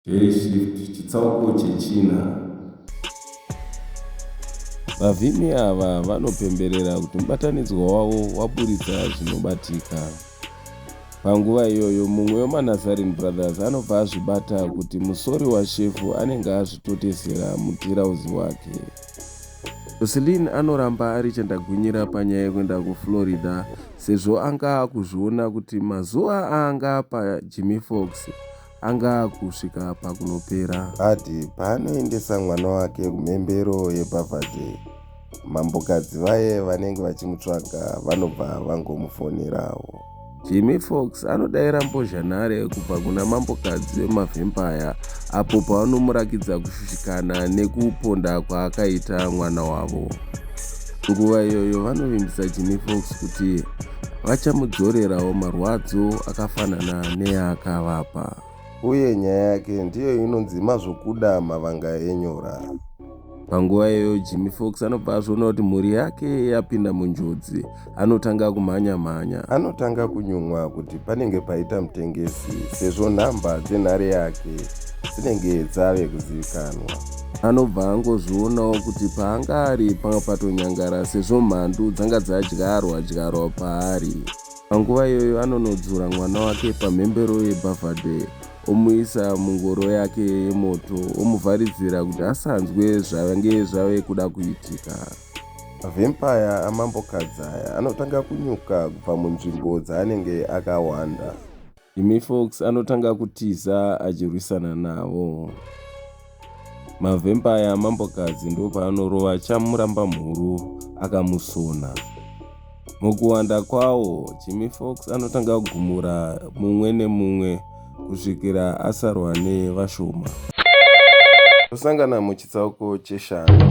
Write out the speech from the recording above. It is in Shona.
Hey Shift chitsauko chechina. Vavhimi ava vanopemberera kuti mubatanidzwa wavo waburitsa zvinobatika. Panguva iyoyo, mumwe wemaNazarene Brothers anobva azvibata kuti musori washefu anenge azvitotesera mutirauzi wake. Jocelyn anoramba ari chandagwinyira panyaya yekuenda kuFlorida sezvo anga akuzviona kuti mazuva aanga apa Jimmy Fox anga akusvika pakunopera. Ati paanoendesa mwana wake kumhembero yebhavhadhe, mambokadzi vaye vanenge vachimutsvaga vanobva vangomufonerawo. Jimmy Fox anodaira mbozhanhare kubva kuna mambokadzi wemavhempaya apo pavanomurakidza kushushikana nekuponda kwaakaita mwana wavo. Nguva iyoyo vanovimbisa Jimmy Fox kuti vachamudzorerawo marwadzo akafanana neyaakavapa. Uye nyaya yake ndiyo inonzi mazvokuda mavanga enyora. Panguva iyoyo Jimmy Fox anobva azviona kuti mhuri yake yapinda munjodzi. Anotanga kumhanya mhanya. Anotanga kunyumwa kuti panenge paita mutengesi sezvo nhamba dzenhare yake dzinenge dzave kuzivikanwa. Anobva angozvionawo kuti paanga ari panga patonyangara sezvo mhandu dzanga dzadyarwa dyarwa paari. Panguva iyoyo anonodzura mwana wake pamhembero yebhavhadhe omuisa mungoro yake yemoto omuvharidzira kuti asanzwe zvange zvave kuda kuitika. Mavhempaya aMambo Kadzaya anotanga kunyuka kubva munzvimbo dzaanenge akahwanda. Jimmy Fox anotanga kutiza achirwisana navo. Mavhempaya amambokadzi ndopaanorova chamuramba mhuru akamusona. Mukuwanda kwawo, Jimmy Fox anotanga kugumura mumwe nemumwe kusvikira asarwa nevashoma. Tosangana muchitsauko cheshanu.